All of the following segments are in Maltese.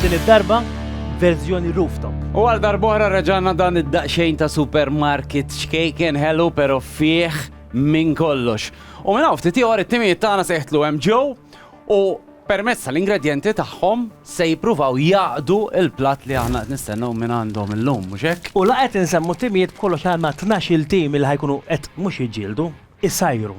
Din id-darba verżjoni rooftop. U għal darbohra reġana dan id-daqxejn ta' supermarket xkejken hello pero fih minn kollox. U minn ftit ieħor it-timijiet tagħna seħtlu hemm ġew u Permezz tal-ingredjenti tagħhom se jippruvaw jgħaqqdu l-platt li aħna qed nistennew minn għandhom illum, mhux hekk? U la qed insemmu t-timijiet b'kollox għandna tnax-il tim li ħa jkunu qed mhux jiġġieldu, isajru.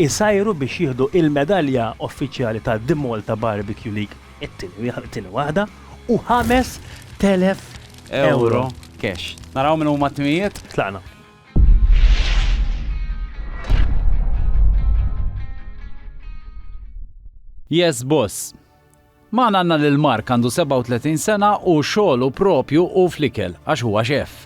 Isajru biex jieħdu il-medalja uffiċjali ta' The Malta Barbecue League, it-tieni waħda, u 5,000 ewro cash. Naraw min huma t-timijiet? Tlaqna. Yes Boss. Maħna għanna lil Mark għandu 37 sena u xogħlu propju u flikel għax huwa xef.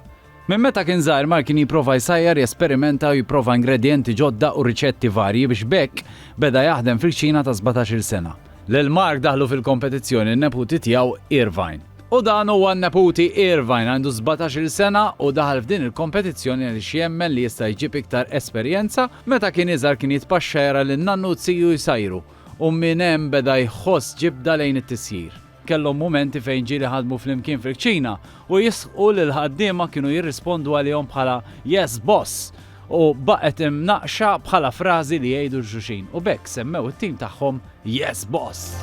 Minn meta kien żgħir Mark kien jipprova jsajjar, jesperimenta u jipprova ingredienti ġodda u riċetti varji biex bekk beda jaħdem fil-ċina ta' 17-il sena. Lil Mark daħlu fil-kompetizzjoni n-neputi tiegħu Irvine. U dan huwa n-neputi Irvine, għandu sbatax-il sena u daħal f'din il-kompetizzjoni għaliex jemmen li jista' jġib iktar esperjenza, meta kien iżgħar kien jitpaxxa jara lil nannu u t-tiju jsajru u minn hemm beda jħoss ġibda lejn it-tisjir. Kellhom mumenti fejn ġieli ħadmu flimkien fil-kċina u jistħu li l-ħaddiema kienu jirrispondu għalihom bħala Yes, boss! u baqgħet imnaqqxa bħala frażi li jgħidu l xulxin u b'hekk semmew it-tim tagħhom Yes Boss!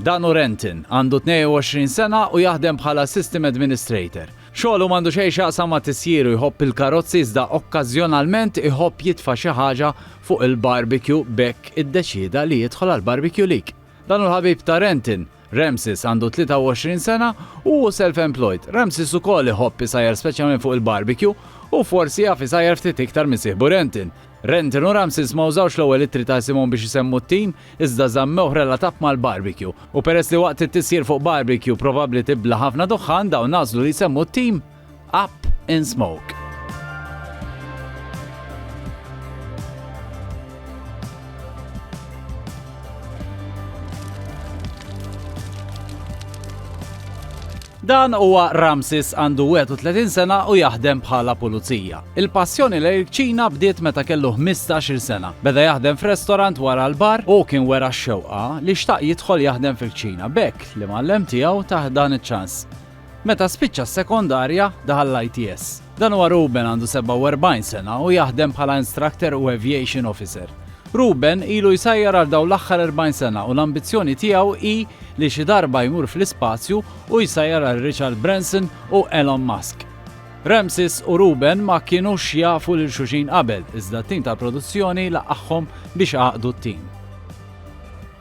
Dan hu Renton, għandu 22 sena u jaħdem bħala System Administrator. Xogħlu m'għandu xejn x'jaqsam ma' tisjiru jħobb il-karozzi iżda okkażjonalment iħobb jitfa' xi ħaġa fuq il-barbecue b'hekk iddeċieda li jidħol għal Barbecue League. Dan hu l-ħabib ta' Renton, Ramses għandu 23 sena u hu self-employed. Ramses ukoll iħobb isajjar speċjalment fuq il-barbecue u forsi jaf isajjar ftit iktar minn sieħbu Renton. Renton u Ramses ma użawx l-ewwel ittri ta' isimhom biex isemmu t-tim, iżda żammewh relatat mal-barbecue. U peress li waqt it-tisjir fuq barbecue probabbli tibla' ħafna duħħan, dawn għażlu li jsemmu t-tim. Up in Smoke. Dan huwa Ramsis għandu 31 sena u jaħdem bħala pulizija. Il-passjoni l ċina bdiet meta kellu 15 sena. Beda jaħdem f'restorant wara l-bar u kien wera x-xewqa li xtaq jidħol jaħdem fil-ċina bekk li mallem tiegħu taħdan iċ-ċans. Meta spiċċa s-sekondarja, daħal l-ITS. Dan huwa Ruben għandu 47 sena u jaħdem bħala instructor u aviation officer. Ruben ilu jsajjar għal dawn l-aħħar 40 sena u l-ambizzjoni tiegħu hi li xi darba jmur fl-ispazju u jsajjar għal Richard Branson u Elon Musk. Ramses u Ruben ma kienu xjafu lil xuxin qabel, iżda t-tim tal-produzzjoni laqaħħom biex għaqdu t-tim.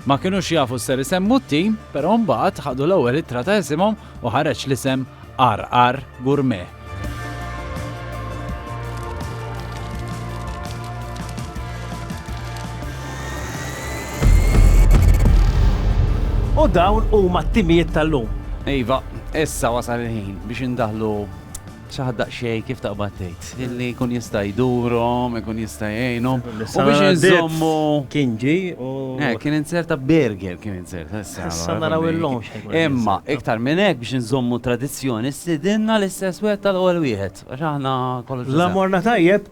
Ma kinux jafu x'ser isemmu t-tim, però mbagħad ħadu l-ewwel ittra ta' isimhom u ħareġ l-isem RR Gourmet. U dawn huma t-timijiet tal-lum. Iva, issa wasal il-ħin biex indaħlu Xi ħadd daqsxejn kif taqbad tgħid, illi jkun jista' jdurhom, ikun jista' jgħinhom. U biex inżommu. Kien ġi u. Eh, kien inzerta burger, kien inzerta issa. Issa naraw il-lum. Imma, iktar minn hekk biex inżommu tradizzjoni, sidinna l-istess wieħed tal-ewwel wieħed. Għax aħna kollox. La morna tajjeb.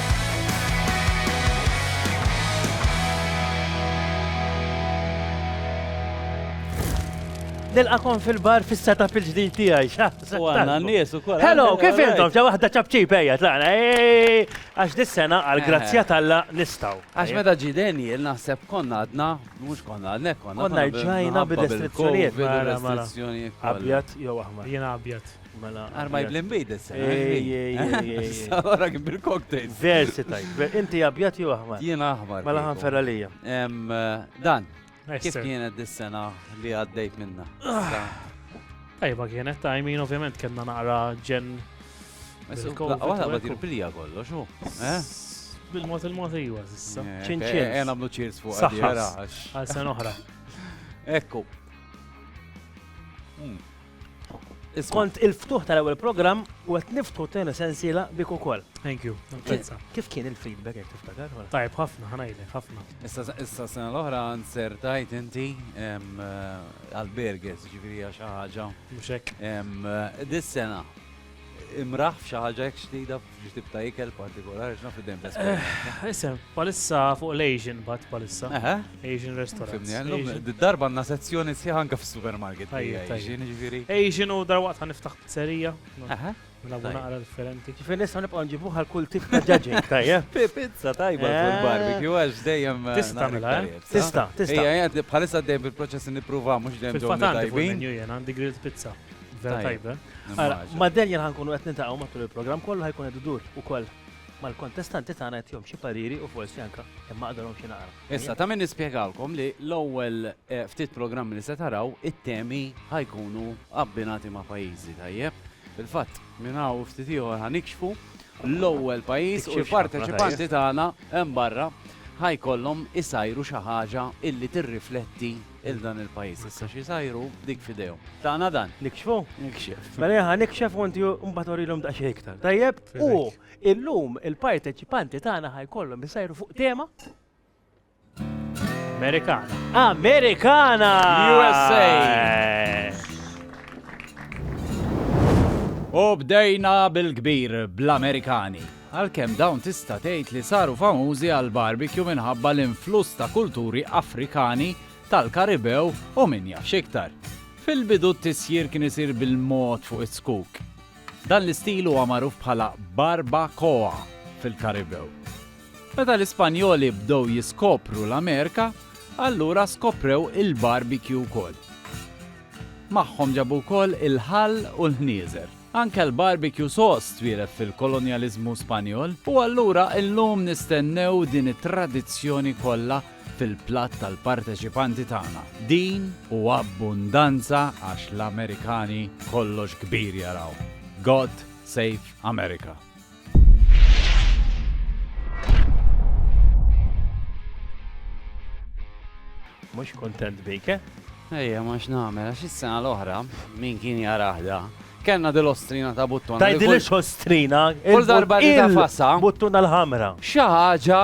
Nilqakom fil-bar fis-setup il-ġdid tiegħi, xa. U għandna n-nies ukoll. Hello, kif intom? Ġa waħda ċabċib ejja tlaqna. Għax dis-sena għal grazzja talla nistgħu. Għax meta ġi Daniel naħseb konna għadna, mhux konna għadna konna. Konna ġajna bil-restrizzjonijiet. Bil-restrizzjonijiet. Abjad jew aħmar. Jiena abjad. Mela. Arba jibli mbid is-sena. Ora kif bil-cocktail. Versi tajt. Inti abjad jew aħmar? Jien aħmar. Mela ħanfer għalija. Dan, kif kienet dis-sena li għaddejt minna? Tajba kienet ta' jmin ovvjament kellna naqra ġen. Għala ma tirpilija kollox, u? Bil-mod il-mod ejwa, zissa. ċinċin. Għen għamlu ċirs fuq għadjera. Għal sen oħra. Ekku. Hmm. Kont il-ftuħ tal-ewwel programm u qed niftħu t-tieni sensiela bik ukoll. Thank you. Kif kien il-feedback jekk tiftakar? Tajb ħafna, ħanajlek ħafna. Issa sena l-oħra nsertajt inti għal-burgers, ġifieri għax ħaġa. Mhux hekk. Dis-sena imraħ f'xi ħaġa hekk ġdida Biex tibta ikel partikolari, x'naf id-dem ta' eh, Isem, palissa fuq l-Asian bat palissa. Asian restaurant. Darba għanna sezzjoni sħiħ anka fis-supermarket. Asian ġifieri. Asian u dar waqt niftaħ pizzerija. Nabu naqra differenti. Kif nista' nibqa' nġibu għal kull tip ta' ġaġing tajja. Pizza tajba eh. kull barbecue għax dejjem. Eh, tista' mela, tista', tista'. Ejja, bħalissa dejjem bil-proċess nipprova mhux dejjem ġew tajbin. Għandi grilled pizza. Vera tajba. Ma Daniel ħankunu qed nintaqgħu matul il-programm kollu ħajkun qed idur ukoll mal-kontestanti tagħna qed jom xi pariri u forsi anke imma qadalhom xi naqra. Issa ta' min nispjegalkom li l-ewwel eh, ftit programm li se taraw it-temi ħajkunu abbinati ma' pajjiżi tajjeb. Fil-fatt minn hawn ftit ieħor ħanikxfu l-ewwel pajjiż u l-parteċipanti tagħna hemm barra ħajkollhom isajru xi ħaġa illi tirrifletti 'il dan il-pajjiż issa x'isajru dik f'idejhom. Tagħna dan. Nikxfu? Nikxef. Mela jien ħa nikxef u inti mbagħad urilhom daqsxejn iktar. Tajjeb? U illum il-parteċipanti tagħna ħa jkollhom isajru fuq tema Amerikana. Amerikana! USA! U bdejna bil-kbir bl-Amerikani. għalkemm dawn tista' tgħid li saru famużi għall-barbecue minħabba l-influss ta' kulturi Afrikani, tal-Karibew u min jaf x'iktar. Fil-bidu t-tisjir kien isir bil-mod fuq iz-zkuk. Dan l-istil huwa magħruf bħala barba coa fil-Karibew. Meta l-Ispanjoli bdew jiskopru l-Amerika, allura skoprew il-barbecue wkoll. Magħhom ġabu wkoll il-ħall u l-ħnieżer. Anke l-barbecue sauce twieled fil-kolonjaliżmu Spanjol, u allura llum nistennew din it-tradizzjoni kollha fil-platt tal-parteċipanti tagħna. Din u abbundanza għax l-Amerikani kollox kbir jaraw. God Save America! Mux kontent bik, eh? Ejja, ma x'namel, għax is-sena l-oħra, min kien jaraħda, kellna dil-ostrina ta' buttuna. Tajdi li ostrina, kull darba li ta' fassa. Buttuna l-ħamra. Xi ħaġa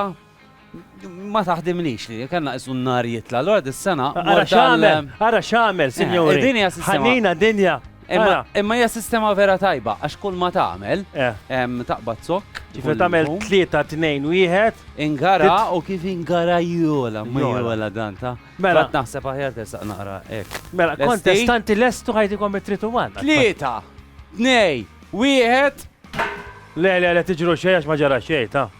Ma taħdimlix li kellna qisu n-nar jitla. Allura dis-sena. Ara x'għamel, ara x'għamel, sinjuri. Eh, din hija sistema. Ħanina dinja. Imma hija sistema vera tajba għax kull ma tagħmel eh. taqbad zokk. Ġifier tagħmel tlieta tnejn wieħed. Ingara u kif ingara jola, ma jola dan ta. Mela naħseb aħjar tesaq naqra hekk. Mela kontestanti lestu ħajtikom it-tritu wan. Tlieta, tnej, wieħed. Le, le, le, tiġru xejn għax ma ġara xejn ta'.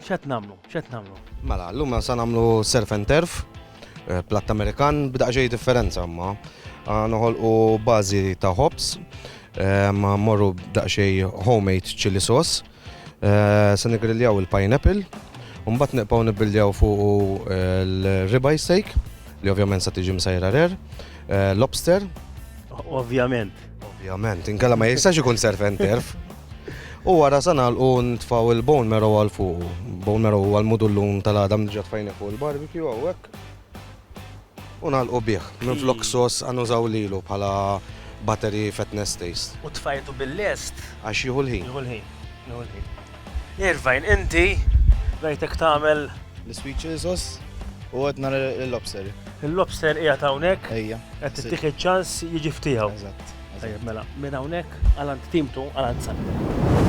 X'qed nagħmlu? X'qed nagħmlu? Mela, llum se nagħmlu surf and turf, eh, platt Amerikan b'daq xejn differenza imma. Ah, noħolqu bażi ta' hops, eh, ma morru b'daq xejn homemade chili sauce, eh, se nigriljaw il-pineapple, u mbagħad nibqgħu nibbildjaw fuq eh, l-ribeye steak, li ovvjament se tiġi msajra rare, eh, lobster, Ovvjament. Ovvjament, inkella ma jistax ikun surf and turf. U wara sa nagħlqu ntfaw il-bone marrow għal fuq. Bone marrow huwa l-mudullun tal-għadam ġat fajni fuq il-barbecue hawnhekk. U nagħlqu bih. Minn flok sos għanużaw lilu bħala battery fatness taste. U tfajtu bil-lest. Għax jieħu l-ħin. Jieħu l-ħin. Irvine, inti rajtek tagħmel. L-sweet chili sauce u qed nara l-lobster. Il-lobster qiegħed hawnhekk. Ejja. Qed tittik iċ-ċans jiġi ftiegħu. Eżatt. Tajjeb mela, minn hawnhekk għal għand timtu għal għand sal.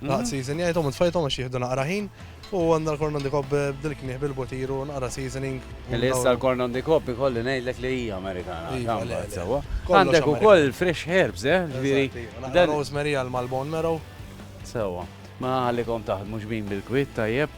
Naqt season jgħidhom u tfajthom għax jieħdu naqra ħin u għandna l-korn on the cob eh, bdil knieħ bil-botiru naqra seasoning. Li issa l-korn on the cob ikolli ngħidlek li hija Amerikana. Iva, Għandek ukoll fresh herbs, eh? Ġifieri. Dan rosemary għal mal-bone marrow. Sewa. Ma għalikom taħt mhux bin bil-kwit tajjeb.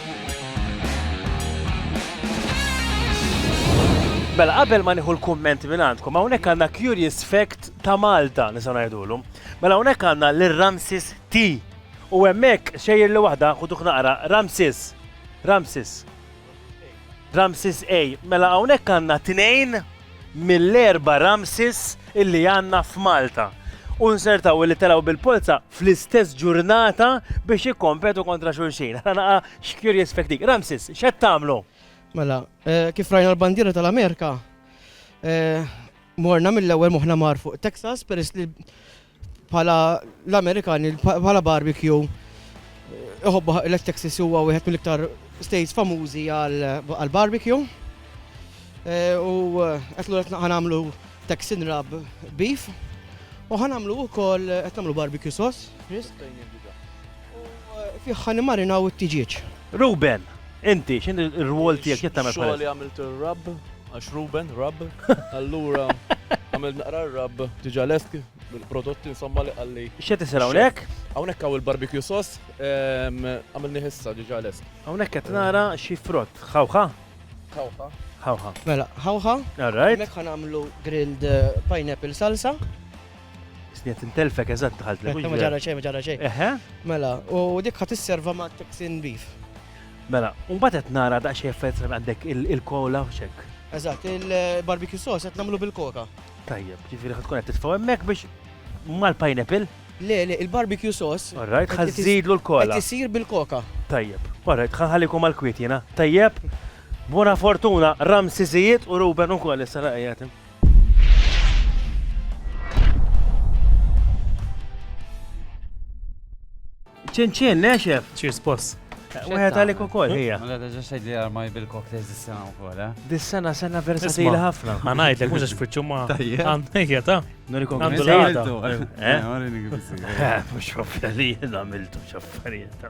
Mela, qabel ma nieħu l-kumment minn għandkom, hawnhekk għandna curious fact ta' Malta nisa ngħidulu. Mela hawnhekk għandna lil Ramsis T. U hemmhekk xejjer li waħda ħuduh naqra Ramsis. Ramsis. Ramsis A. Mela hawnhekk għandna tnejn mill-erba' Ramses illi għandna f'Malta u nsertaw illi telgħu bil-polza fl-istess ġurnata biex jikkompetu kontra xulxin. Ara naqa' x'curious fact dik. Ramses, x'qed tagħmlu? Mela, eh, kif rajna l-bandiera tal-Amerika, eh, morna mill-ewwel moħħna mar fuq Texas peress li Bħala l-Amerikani, bħala barbecue, iħobbu l-Texas huwa wieħed mill-iktar states famużi għal barbecue. Eh, u eh, qed lura ħanamlu Texan rub beef u ħanamlu wkoll qed nagħmlu barbecue sauce. U fih ħa nimmarinaw it-tiġieġ. Ruben, inti x'inhi r-rwol tiegħek x'qed tagħmel bħalissa? Xogħli għamilt ir-rabb għax Ruben, rabb, allura għamilt naqra r-rabb diġà lest il-prodotti insomma li qalli. X'qed isir hawnhekk? Hawnhekk hawn il-barbecue sauce għamilni ħissa diġà lest. Hawnhekk qed nara xi frott, ħawħa? Ħawħa. Ħawħa. Mela, ħawħa. All right. Mek ħanamlu grilled eh, pineapple salsa. Sniet intelfek eżatt daħalt li. Ma ġara xejn, ma ġara xejn. Eħe. Mela, u dik ħat isserva ma' Texan beef. Mela, u mbagħad qed nara daqsxejn effett għandek il-kola u xek. Eżatt, il-barbecue sauce qed nagħmlu bil-koka. Tajjeb, ġifieri ħad tkun qed titfgħu hemmhekk biex mal-pineapple. Le, le, il-barbecue sauce. Alright, ħad żidlu l-kola. Qed isir bil-koka. Tajjeb, alright, ħanħallikom għal-kwiet jiena. Tajjeb, buona fortuna, Ramsiżijiet u Ruben ukoll issa laqgħet. ċinċin, neċef. Cheers, boss. Wieħed għalik ukoll hija. Ma għadha ġax tgħidli armaj bil-cocktails dis-sena wkoll, eh? Dis-sena sena versatili ħafna. Ma ngħidlek mhux għax fiċċu ma għandejja ta. Nurikom għandu l-għada. Eh? Mhux ħafna li jien għamiltu x'affarijiet.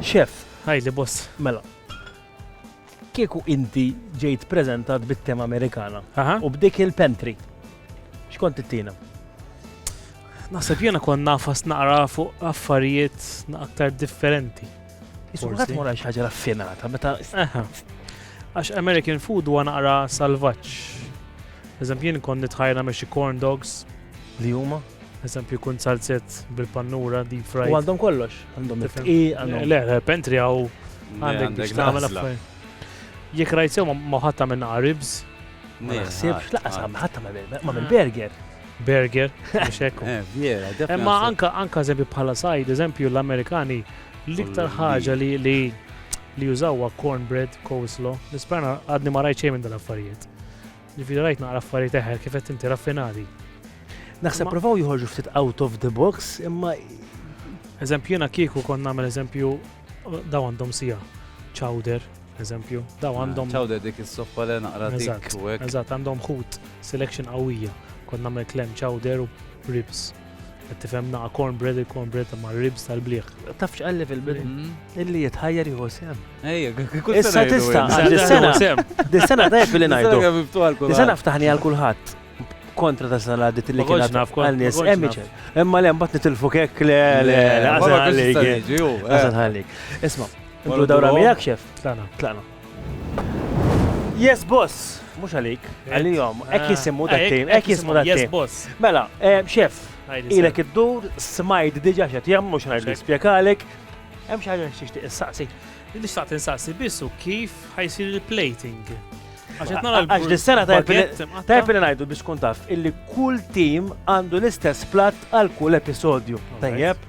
Chef. Għidli boss. Mela. Kieku inti ġejt preżentat bit-tema Amerikana. Aha. U b'dik il-pantry. X'kont tittina? Naħseb jiena kont nafas naqra fuq affarijiet aktar differenti. Iskulħat mora xi ħaġa raffinata meta. Aha. Għax American food huwa naqra salvaġġ. Eżempju, jien kont nitħajna me xi corn dogs. Li huma? Eżempju, jkun salzett bil-pannura, deep fried. U għandhom kollox, għandhom il-fqi, għandhom. Le, le, pentri għaw għandek biex tagħmel affarijiet. Jekk rajt sew ma ħatta minn ribs. Ma naħsibx laqas ma ħatta ma minn burger. Burger, biex hekk. Eh, Imma anka anka eżempju bħala sajd, eżempju l-Amerikani l-iktar ħaġa li li li jużawha cornbread, coleslaw, l-ispana għadni ma rajt xejn minn dal-affarijiet. Ġifieri rajt naqra affarijiet eħel kif qed inti raffinati. Naħseb provaw joħorġu ftit out of the box imma Eżempju jiena kieku kont nagħmel eżempju daw għandhom sija chowder eżempju daw ah, għandhom chowder dik is-soppa li naqra dik. Eżatt għandhom ħut selection qawwija kont nagħmel klem chowder u ribs. Tifhem naqa cornbread, il-cornbread ma' ribs tal-bliħ. Taf x'qalli fil-bidu? Mm. Illi jitħajjar jieħu sem. Ejja, kull Issa tista' dis-sena. Dis-sena tajb li ngħidu. Dis-sena ftaħni għal kulħadd kontra ta' sena għaddit li kien naf għal nies emiċer. Imma le mbagħad nitilfu kek le le le għażan ħallik. Għażan ħallik. Isma', intu dawra miegħek xef? Tlaqna. Tlaqna. Yes boss, mhux għalik, għalihom, hekk ah, jisimmu dat tim hekk jisimmu dat tim boss. Mela, eh, xef, ilek id-dur, smajt diġa xed jam, mhux ngħid nispjegalek. Hemm xi ħaġa xi tistaqsi. Li xtaqt insaqsi biss u kif ħajsir il-plating. Għax dis-sena tajb li ngħidu biex kun taf illi kull tim għandu l-istess plat għal kull episodju. Tajjeb?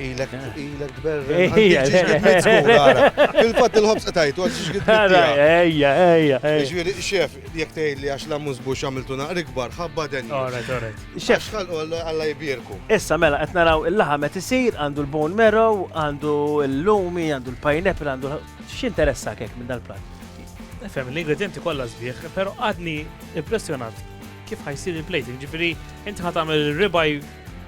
Ilek, ilek tberri. Fil-fat il-ħobs għatajtu, għal xiex għidu. Ejja, ejja. Ġviri, xef, jek tgħid li għax la mużbu xamiltu naqri kbar, ħabba den. Alright, alright. Xef, xalqu għalla jibirku. Issa, mela, qed naraw il-laħam qed isir, għandu l-bone marrow, għandu l-lumi, għandu l-pineapple, għandu x'interessa kek minn dal-plat. Fem, l-ingredienti kollha sbieħ, pero għadni impressjonat kif ħajsir il-plating, ġifiri, inti ħatamil ribaj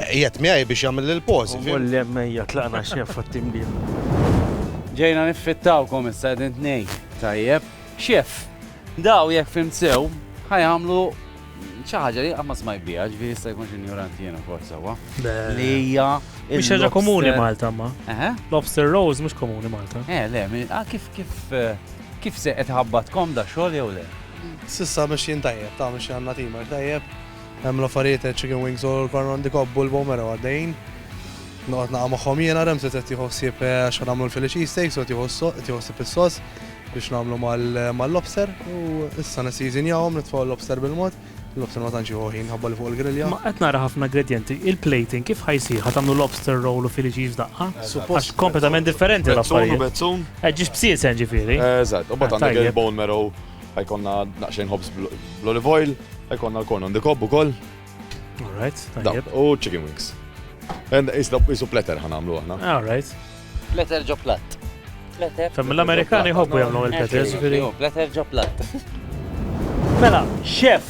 Qiegħed miegħi biex jagħmel il-pożi. Mulli hemm ejja tlaqna x'hemm fuq it-timbiel. Ġejna niffittawkom issa qegħdin tnejn. Tajjeb. X'hef? Daw jekk fimt sew ħa jagħmlu xi ħaġa li qatt ma smajt biha, ġifieri jista' jkun xi ignoranti jiena wkoll sewwa. Li hija Mhix ħaġa komuni Malta ma. Eħe? Lobster rolls mhux komuni Malta. Eh, le, min- ah, kif kif eh, kif se qed ħabbatkom da xogħol jew le? Sissa mexjin tajjeb, ta' mexjin għandna tima tajjeb. Hemm l-affarijiet chicken wings u l-corn on the cob u l-bomero għaddejjin. Noqgħod naqa' magħhom jiena Remzi qed jieħu ħsieb eh, għax nagħmlu l-Philly cheesesteaks u qed jieħu ħsieb is-sos biex nagħmlu mal-lobster u issa nisiżinjawhom nitfgħu l-lobster bil-mod. L-lobster ma tantx jieħu ħin ħabba li fuq il-grilja. Ma qed nara ħafna ingredienti, il-plating kif ħajsir ħa tagħmlu lobster roll u Philly cheese daqqa? Għax kompletament differenti l-affarijiet. Bezzun u bezzun. Ġiex bsiesen ġifieri. Eżatt, u bad għandek il-bone marrow Ħajkonna naqxejn ħobs bl-olive oil, ħajkonna l-corn on the cob ukoll. All right, tajjeb. U chicken wings. Isu pletter ħanamlu aħna. All right. Pletter ġo platt. Pletter. Fem l-Amerikani jħobbu jagħmlu il-pletter, ġifieri. Pletter ġo platt. Mela, chef,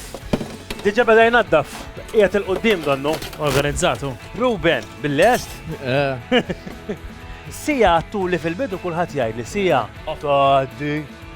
diġa beda jnaddaf, qiegħed il-qudiem donnu. Organizzatu. Ruben, bil-lest? Eh. Sija għattu li fil-bidu kulħadd jgħid li sija. Tgħaddi.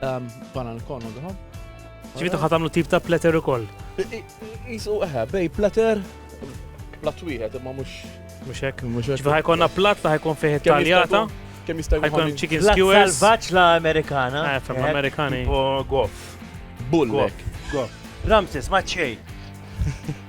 Bana l-kon u dħom. Ġifitu ħatamlu tip ta' platter u koll. Isu eħe, bej platter, platt wieħed imma mhux mhux hekk. Ġifier ħajkonna platt li ħajkun fih taljata. Kemm jista' jkun chicken skewers. Salvaġġ la Amerikana. Eh, fem Amerikani. Goff. Bullek. Goff. Ramses, ma' xejn.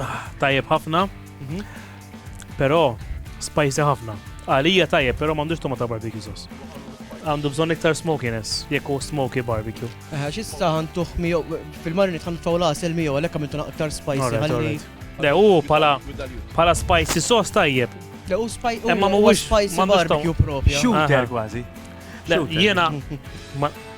Ah, tajjeb ħafna. Mhm. Però spicy ħafna. Għalija tajjeb, però m'għandux tomata barbecue sauce. Għandu bżonn iktar smokiness, jekk hu smoky barbecue. Eħe, xista ħantuħ miegħu fil-marini tħan tfaw lasel miegħu għalhekk għamiltu aktar spicy Alright, ħalli. alright. Le, u pala, pala spicy sauce tajjeb. Le u spaj u Imma huwa mhuwiex- spicy m'għandux barbecue propja. Shooter Ah. kważi. Le, Shooter. jiena ma-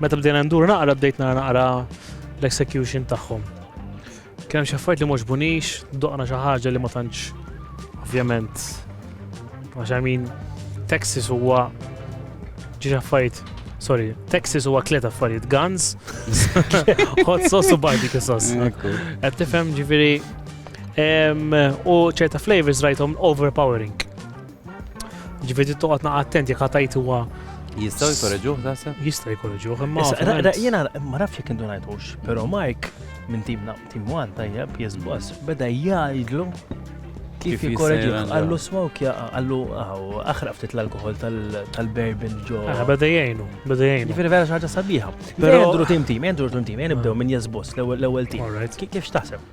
Meta bdejna ndur naqra bdejt nara naqra l-execution tagħhom. Kien hemm xi affarijiet li mhux bunix, doqna xi ħaġa li ma tantx ovvjament għax I mean Texas huwa ġiex affarijiet sorry, Texas huwa tliet affarijiet guns, hot sauce u barbecue sauce. Qed tifhem ġifieri u ċerta flavors rajthom overpowering. Ġifieri toqgħod naqa' attent jekk ħatajt huwa Jistaw jkorreġuħ tasab? Jistaw jkorreġuħ, imma. Jena ma nafx jek indu najtux, pero Mike minn timna, tim one tajjeb, jizbos, beda jgħidlu kif jkorreġuħ. Għallu smoke ja, għallu aħra ftit l-alkohol tal-berbin ġo. Ah, beda jgħinu, beda jgħinu. Ġifiri vera xaġa sabiħa. Pero jendru tim tim, jendru tim tim, jenibdew minn jizbos l-ewel tim. Kif xtaħseb?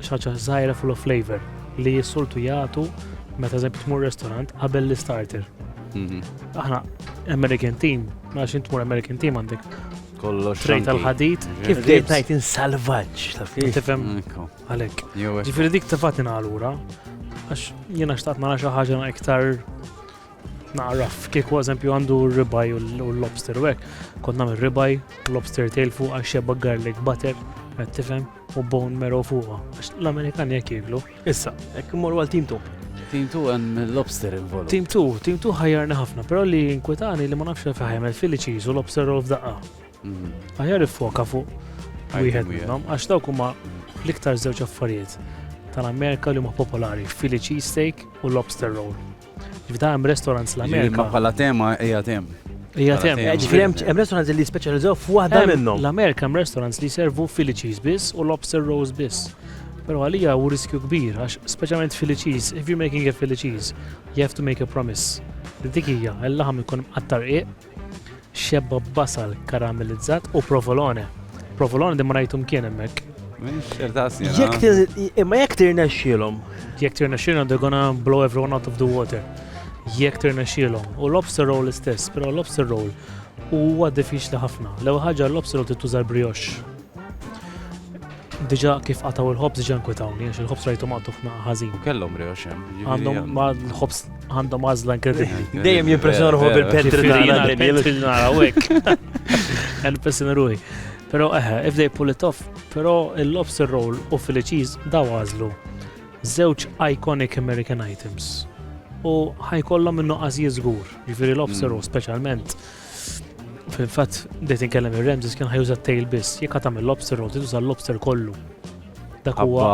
xi ħaġa żgħira full of flavor li jissoltu jagħtu meta eżempju tmur restaurant qabel l-starter. Mhm. Aħna American team, ma xint tmur American team għandek kollox. Trejt tal-ħadid. Kif dejt tajt insalvaġġ taf kif. Tifhem għalhekk. Ġifieri dik tefat ingħalura għax jiena xtaqt nara xi ħaġa iktar Nagħraf, kieku eżempju għandu ribaj u l-lobster u hekk, kont nagħmel ribaj, lobster tail fuq għax xebba garlic butter, qed tifhem, u bone marrow fuqha. Għax l-Amerikani jekk jieklu. Issa, hekk immorru għal team 2. Team 2 hemm lobster involut. Team 2, team 2 ħajjarna ħafna, però li inkwetani li ma nafx li faħjem il-Philly cheese u lobster roll f'daqqa. Mhm. Ħajjar iffoka fuq wieħed minnhom għax dawk huma l-iktar żewġ affarijiet tal-Amerika li huma popolari, Philly cheese steak u lobster roll. F'da hemm restaurants l-Amerika. Ma bħala tema hija tem. Hija tem. Ġifieri hemm restaurants li speċjalizzaw f'waħda minnhom. L-Amerika hemm restaurants li servu Philly cheese biss u lobster rolls biss. Pero għalija u riskju kbir, għax specialment Philly cheese, if you're making a Philly cheese, you have to make a promise. Dik hija, l-laħam ikun mqattar iq, Xebba b'basal karamellizzat u provolone. Provolone din ma rajtu mkien hemmhekk. Imma jekk tirnexxielhom. Jekk tirnexxielhom they're gonna blow everyone out of the water. Jekk tirnexxielhom. U lobster roll istess, però lobster roll huwa diffiċli ħafna. L-ewwel ħaġa lobster roll tittuża l-brioche. Diġa kif qataw il-ħobs diġa nkwitawni, għax il-ħobs rajtu maqtuf ma' ħażin. Kellhom rewx hemm. jiġifieri Għandhom hemm. ma' l-ħobs għandhom għażla inkredibbli. Dejjem jimpressjonaw Vera, vera. bil-pentri Ġifieri nara nara li l-pentri li nara hekk. Għan pessin ruħi. Pero eħe, if they pull it off, pero il-lobster roll u Philly cheese daw għazlu. Zewċ iconic American items. U ħajkollhom minnu għazji zgur. Ġifiri lobster roll specialment. Fil-fatt, bdejt inkellem ir-Ramses kien ħajuża t-tail biss, jekk tagħmel lobster roll, tuża l-lobster kollu. Dak huwa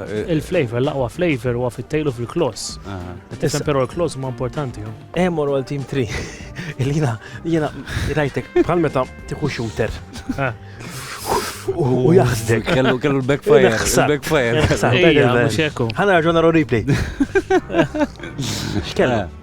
eh, il-flavor, l-aqwa flavor huwa fit-tail u fil-kloss. Tisem però l-kloss huma importanti. Eh, mor għal team 3. Ilina, jiena rajtek bħal meta tieħu shooter. U jaħsdek. Kellu kellu l-backfire. L-backfire. Ħana raġuna replay. X'kellu?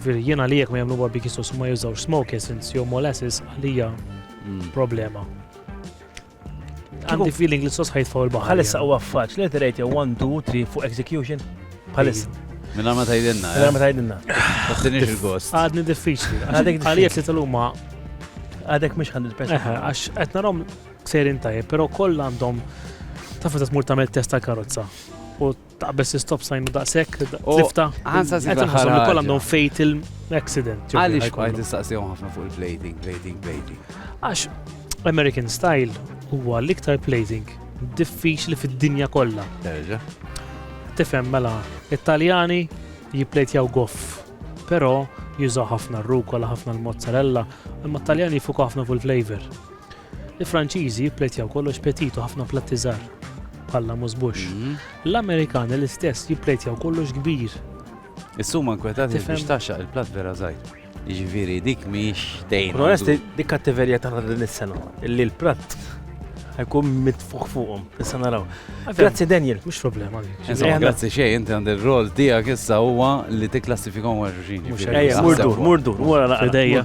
Veri, jien għalija jekk ma jagħmlu barbecue sauce u ma jużawx smoke essence jew molasses għalija Mm. problema. Għandi feeling li s-sos ħajtfaw il-baħar. Bħalissa huwa faċ, li tirejt 1, 2, 3 fuq execution. Bħalissa, Minna ma tajdenna, mela ma eh? tajdinna. Tattinix il-gost. Għadni diffiċli. Għadek Għalija li tal-huma Għadek mhux 100%. Eħe, għax qed narhom sejrin tajjeb, però kollha għandhom taf meta tmur tagħmel test tal-karozza. U Taqbeż istop sajnu daqshekk, U tlifta. ħansa Qed nħossom li kollha għandhom fatal accident. ġifieri Għaliex ħajkollu. qajt tistaqsihom ħafna fuq il-plating, plating, plating. Għax American style huwa l-iktar plating diffiċli fid-dinja kollha. Terġa'. Tifhem mela, it-Taljani jipplejtjaw goff, però jużaw ħafna r-rukola, ħafna l-mozzarella, imma t-Taljani jifukaw ħafna fuq il-flavor. Il-Franċiżi jippletjaw kollox petit u ħafna platti żgħar, bħalla musbux. L-Amerikani l-istess jippletjaw kollox kbir. Is-suma nkwetati biex taxxaq il-platt vera żgħir. Jiġifieri dik mhix dejjem. Onesti, dik kattiverja ta' din is-sena, illi l-platt ħajkun mitfuħ fuqhom, issa naraw. Grazzi Daniel, mhux problema. Insomma, grazzi xejn, inti għandi r-rol tiegħek issa huwa li tikklassifikhom għal xulxin. Murdur, murdur, wara naqra.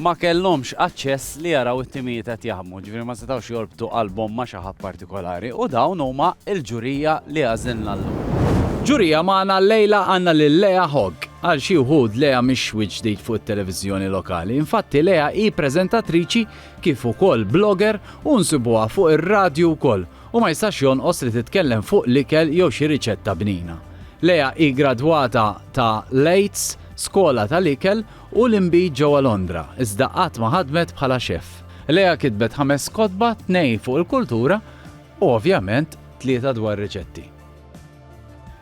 ma kellhomx aċċess li jaraw it-timijiet qed jaħdmu, jiġifieri ma setgħux jorbtu qalbhom ma' xi ħadd partikolari u dawn huma l-ġurija li għażilna llum. Ġurija magħna llejla għandna lil Lea Hogg. Għal xi wħud Lea mhix wiċċ ġdid fuq it-televiżjoni lokali. Infatti Lea hi preżentatriċi kif ukoll blogger u nsibuha fuq ir-radju wkoll u ma jistax jonqos li titkellem fuq l-ikel jew xi riċetta bnina. Lea hi gradwata ta' Lates, skola tal-ikel u l-inbid ġewwa Londra, iżda qatt ma ħadmet bħala xeff. Leah kitbet ħames kotba, tnejn fuq il-kultura u ovvjament tlieta dwar riċetti.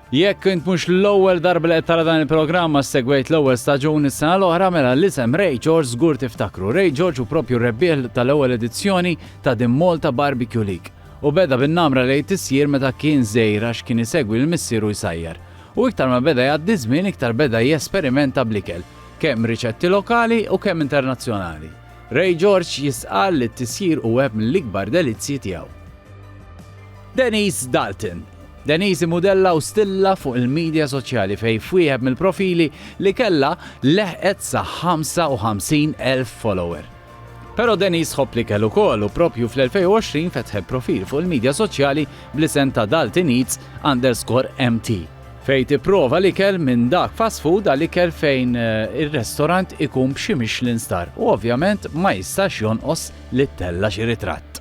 Jekk int mhux l-ewwel darba li qed tara dan il-programm ma segwejt l-ewwel staġun is-sena l-oħra mela l-isem Ray George żgur tiftakru. Ray George hu propju r-rebbieħ tal-ewwel edizzjoni ta' din Malta Barbecue League u beda bin-namra li jtissier meta kien żgħir għax kien isegwi lil missieru jsajjar. U iktar ma beda jgħaddi ż-żmien iktar beda jesperimenta bl-ikel, kemm riċetti lokali u kemm internazzjonali. Ray George jistqarr li t-tisjir hu wieħed mill-ikbar delizzji tiegħu. Denise Dalton Denise imudella u stilla fuq il-midja soċjali fejn f'wieħed mill-profili li kellha leħqet sa 55,000 follower. Però Denise ħobb l-ikel ukoll u proprju fl-2020 fetħet profil fuq il-midja soċjali bl-isem ta' Dalton Eats underscore MT fejn tipprova l-ikel minn dak fast food għal ikel fejn eh, ir-restorant ikun b'xi Michelin star u ovvjament ma jistax jonqos li tella xi ritratt.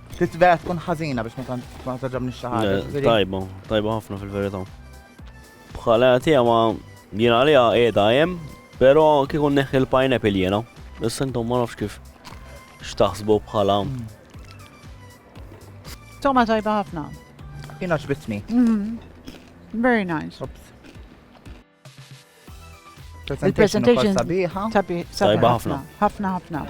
Titbera tkun ħażina biex ma taġabni xaħġa. Tajba, tajba ħafna fil-verità. Bħala tija ma jina għalija edha jem, pero kikun neħi l-pineapple jena. Issa intom ma nafx kif xtaħsbu bħala. Toma tajba ħafna. Jina ġbitni. Mhm. Very nice. Il-presentation sabiħa. Sabiħa ħafna. Ħafna ħafna.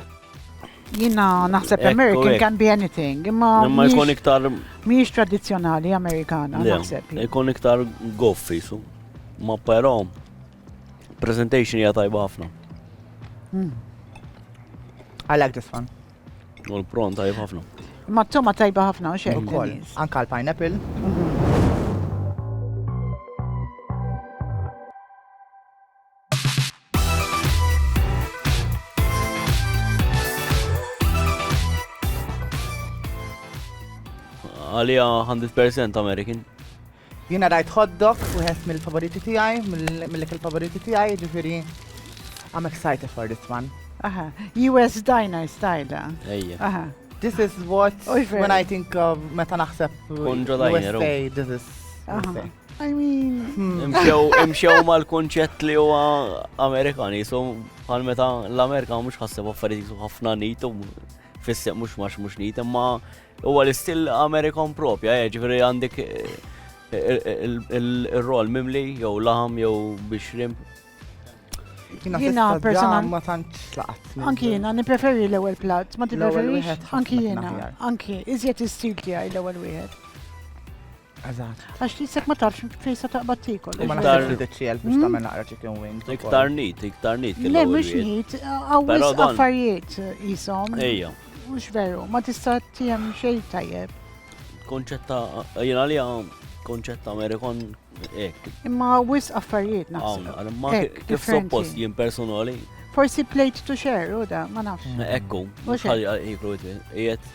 Jina naħseb American can be anything, imma. Imma jkun iktar. Miex tradizjonali Amerikana, naħseb. Jkun iktar goffi, su. Ma però, presentation hija tajba ħafna. Hmm. I like this one. U l-pron tajb ħafna. Ma t-toma tajba ħafna, u xejn. Ukoll, anka l-pineapple. Għalija 100% American. Jiena rajt hot dog, wieħed mill-favoriti tiegħi, mill-ikel favoriti tiegħi, jiġifieri I'm excited for this one. Aha, US Diner style. Ejja. Aha. This is what when I think of meta naħseb Konġo Diner. USA, oh. this is USA. I mean. Hmm. Imxew mal-konċett li huwa Amerikan, jisu bħal meta l-Amerika mhux ħasseb affarijiet jisu ħafna nit u fissek mhux max mhux nit, imma Huwa l-istil Amerikan propja, eh, ġifieri għandek il-rol mimli jew laħam jew biex rimb. Jina personal. Ma tantx laqat. Anki jina, nipreferi l-ewel plat, ma tipreferi. Anki jina, anki, iżjed istil tijaj l-ewel wieħed. Eżatt. Għax tisek ma tafx fejn se taqbad tikol. U ma naqtar il-DCL biex hmm? tagħmel naqra chicken wing. Iktar nit, iktar nit. Le mhux nit, għawis affarijiet jisom. Ejja. Mhux veru, ma tista' tiegħem xejn tajjeb. Konċetta, jien għalija konċetta Amerikan ek. Imma għawis affarijiet naħseb. Ma kif suppost jien personali. Forsi plate to share, u da, ma nafx. Ekku, mhux ħalli jiklu jiet.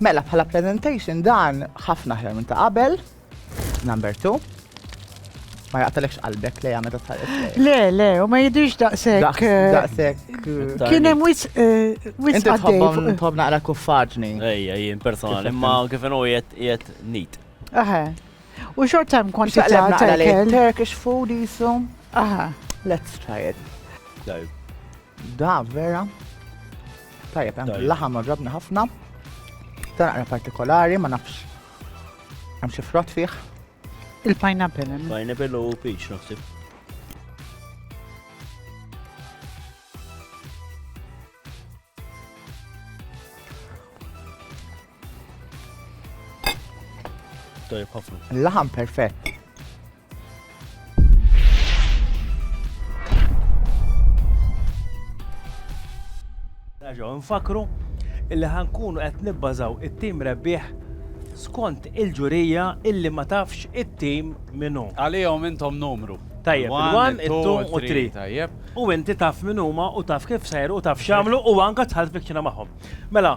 Mela bħala presentation dan ħafna aħjar minn ta' qabel. Number 2. Ma jaqtalekx qalbek lejha meta tħares lejha. Le, le, u ma jidhirx daqshekk. Daqs- eh, Daqshekk. Tarni. Kien hemm wis eh, wis Inti tħobbhom għaddej. tħobb naqra kuffaġni. Ejja, jien personali, Kif imma kif inhu jiet jiet nit. Aha. U xort hemm kwantità Xaqleb naqra ta' lejn ikel. Turkish food jisu. Aha. Let's try it. Tajb. Da vera. Tajjeb, hemm laħam oġobni ħafna. Dan għara partikolari, ma nafx. Hemm xi frott fih. Il-pineapple. Eh? Pineapple u peach naħseb. Tajjeb ħafna. Laħam perfett. Raġaw nfakru illi ħankunu qed nibbażaw it-tim rebbieħ skont il-ġurija illi ma tafx it-tim minnu. Għalihom intom numru. Tajjeb, il-1, il-2 u 3. Tajjeb. U inti taf min huma u taf kif sejru u taf xamlu u anka tħalt fikċina magħhom. Mela,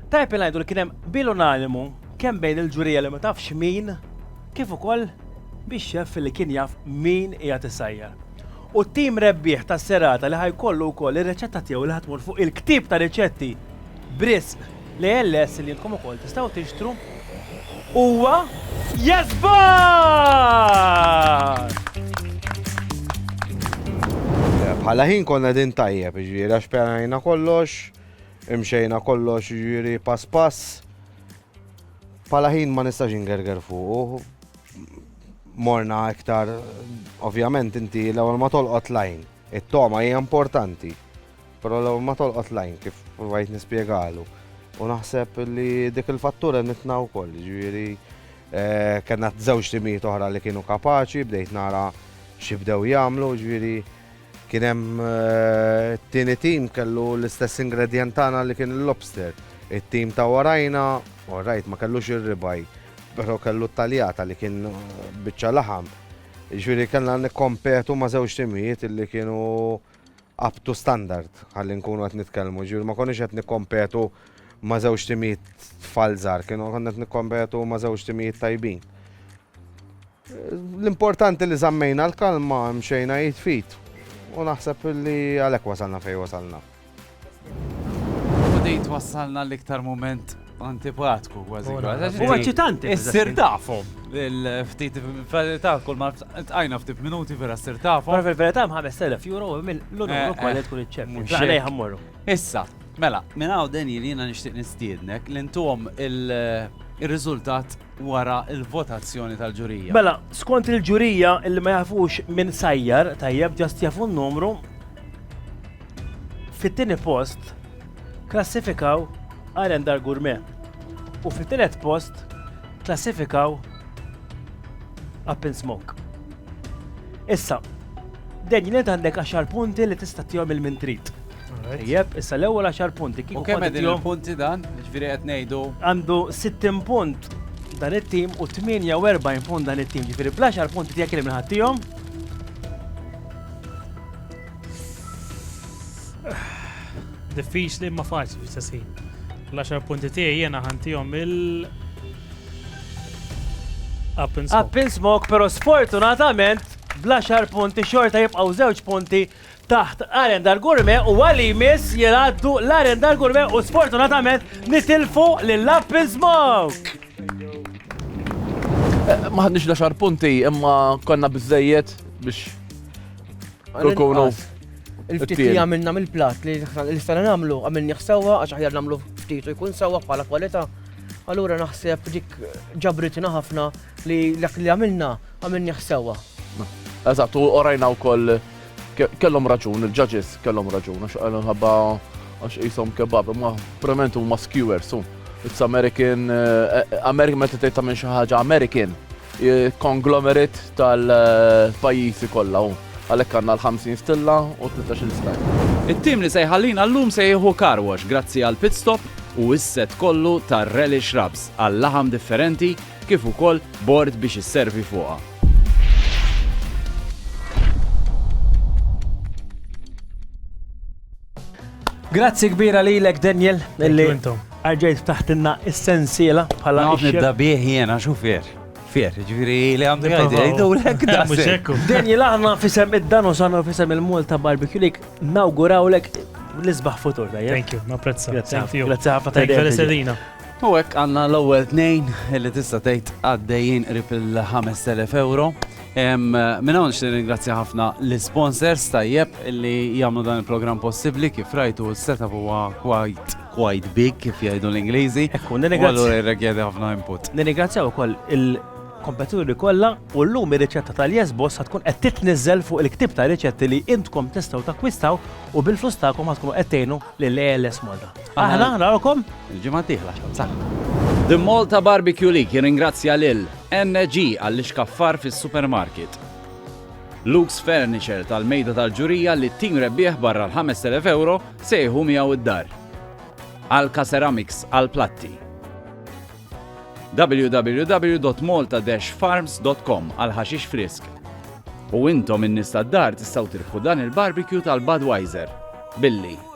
Tajjeb li ngħidu li kien hemm qbil unanimu kemm bejn il-ġurija li ma tafx min kif ukoll bix-xeff li kien jaf min qiegħed isajjar. U t-tim rebbieħ tas-serata li ħa jkollu wkoll ir-riċetta tiegħu li ħa tmur fuq il-ktieb ta' riċetti b'risq l-ALS li intkom ukoll tistgħu tixtru huwa Jasbar! Bħala ħin konna din tajjeb, ġifieri għax pjanajna kollox, Imxejna kollox jiġifieri pass pass. Bħala ħin ma nistax ingerger fuqu. Morna iktar, ovvjament inti l-ewwel ma tolqot lajn. It-toma hija importanti. Però l-ewwel ma tolqot lajn kif provajt nispjegalu. U naħseb li dik il-fattura nitna wkoll, ġifieri eh, kellna żewġ timijiet oħra li kienu kapaċi, bdejt nara xi bdew jagħmlu, ġifieri Kien hemm it-tieni tim kellu l-istess ingredjent tagħna li kien il-lobster. It-tim ta' warajna, u rajt ma kellux ir-ribaj, però kellu t-taljata li kien biċċa laħam. Ġifieri kellna nikkompetu ma' żewġ timijiet li kienu up to standard ħalli nkunu qed nitkellmu. Ġifieri ma konniex qed nikkompetu ma' żewġ timijiet tfal żgħar, konna qed nikkompetu ma' żewġ timijiet tajbin. L-importanti li żammejna l-kalma, mxejna id f'id u naħseb li għalhekk wasalna fejn wasalna. U din twassalna l-iktar mument antipatku kważi. U eċitanti. Issir tafhom il-ftit verità kull ma tqajna ftit minuti vera ssir tafhom. Però fil-verità hemm 5000 euro minn l-unur ukoll li tkun iċċemmi. Għalej ħammorru. Issa, mela, minn hawn Daniel jiena nixtieq nistiednek li ntuhom ir-riżultat wara l-votazzjoni tal-ġurija. Mela, skont il-ġurija li ma jafux min sajjar, tajjeb ġast jafu n-numru, fit-tieni post klassifikaw Arendar Gourmet u fit-tielet post klassifikaw Up in Smoke. Issa, Daniel, int għandek 10 punti li tista' tihom il-mintrit. Tajjeb, issa l-ewwel għaxar punti kieku. U kemm qegħdin il-punti dan? Ġifieri qed ngħidu. Għandu 60 punt dan it-tim u 48 punt dan it-tim. Ġifieri bl-10 punti tiegħek li minħattihom. Diffiċli ma faċli fis-sessin. L-10 punti tiegħi jiena ħantihom il- Up in smoke. Up in smoke, pero sfortunatament bl-10 punti xorta jibqaw żewġ punti taħt Arendar Gourmet u għal li jmiss jingħaddu l-Arendar Gourmet u sfortunatament nitilfu lil Up in Smoke! Ma ħadniex l-għaxar punti imma konna biżejjed biex nkunu Il-ftit li għamilna mill-plat li l-istana namlu għamilni xsawa għax aħjar namlu ftit u jkun sawa bħala kwalità. Allura naħseb dik ġabritna ħafna Li dak li għamilna, għamilnieh sewwa. Eżatt, u orajna wkoll kellhom raġun, il-ġaġis kellhom raġun, għax għalhom ħabba għax jisom kebab, ma prement huma skewers, it's American, eh, eh, American meta tgħid tagħmel xi ħaġa American, eh, konglomerit tal-pajjiżi kollha hu. Għalhekk għandna l-50 stilla u 13 stajl. It-tim li se jħallina llum se jieħu karwax grazzi għal pit stop u s-set kollu tar-relish rubs għal laħam differenti kif ukoll bord biex isservi fuqha. Grazzi kbira lilek Daniel illi arġejt taħtinna is-sensiela bħala. Naf nibda bih jiena xufier. Fier, ġviri li għandu għajdi, għajdu l-ek da. Daniel aħna fisem id-dan u sanu fisem il-Malta Barbecue League, nawguraw l-ek l-isbaħ futur. Thank you, ma prezza. Grazie ħafna. Grazie ħafna. U hekk għandna l-ewwel tnejn li tista' tgħid għaddejjin qrib il-5000 euro. Minn hawn nixtieq ringrazzja ħafna l-sponsors tajjeb li jagħmlu dan il-programm possibbli kif rajtu s-setup huwa quite quite big kif jgħidu l-Ingliżi. Ekku, nirringrazzja. Għallu ħafna input. Nirringrazzja wkoll il-kompetituri kollha u llum ir-riċetta tal-Yes Boss tkun qed titniżel fuq il-ktib ta' riċetti li intkom tistgħu takkwistaw u bil-flus tagħkom tkunu qed tgħinu lill-ALS Malta. Aħna narawkom il-ġimgħa d-dieħla. Saħħa. The Malta Barbecue League jirringrazzja lil NG għall-ixkaffar fis-supermarket. Luke's Furniture tal-mejda tal-ġurija li t-tim rebbieħ barra l-5000 euro sejħu miegħu id-dar. Alka Ceramics għal-platti. www.malta-farms.com għal-ħaxix frisk. U intom in-nies tad-dar tistgħu tirħu dan il-barbecue tal-Budweiser. Billi